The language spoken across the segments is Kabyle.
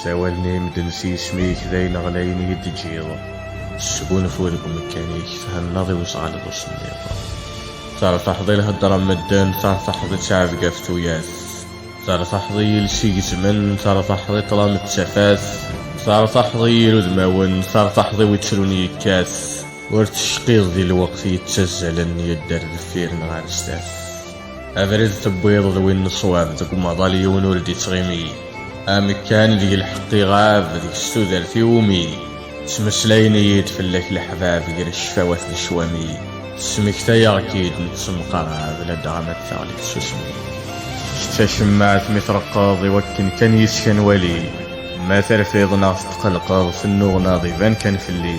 Sawalen-iyi medden s yisem-ik, d ayen ɣlayen i yi-d-teǧǧiḍ. Sgunfu deg umekkan-ik, thennaḍ i wezɣal d usemmiḍ. Tertaḥeḍ i lhedra n medden, tertaḥeḍ i ttɛebga ɣef tuyat. Tertaḥeḍ i yiles igezmen, tertaḥeḍ i ṭṭlam d tafat. Tertaḥeḍ i yir udmawen, tertaḥeḍ i wittrun yekkat. Ur tecqiḍ di lweqt yettazzalen, yedder deffir neɣ ar sdat. Abrid tewwiḍ d win n ṣṣwab deg umaḍal yiwen ur d-ittɣimi. Amekkan deg lḥeqq iɣab deg s tudert iwumi ttmeslayen-iyi-d fell-ak leḥbab gar ccfawat d ccwami. Tesmektayeɣ-k-id nettemqarab ladɣa ma d taɣli tsusmi. Kečč d tacemmaɛt mi treqqeḍ i wakken kan yis-k ad nwali. Ma terfiḍ neɣ tetqelqeḍ tennuɣnaḍ iban kan fell-i.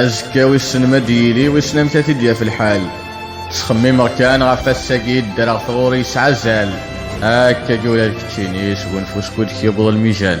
Azekka wissen ma d-yili wissen amek ad t-id-yaf lḥal. Ttxemmimeɣ kan ɣef ass-agi i ddreɣ tɣuri yesɛa azal. Akkagi ula d keččini sgunfu skud k-yewweḍ lmijal.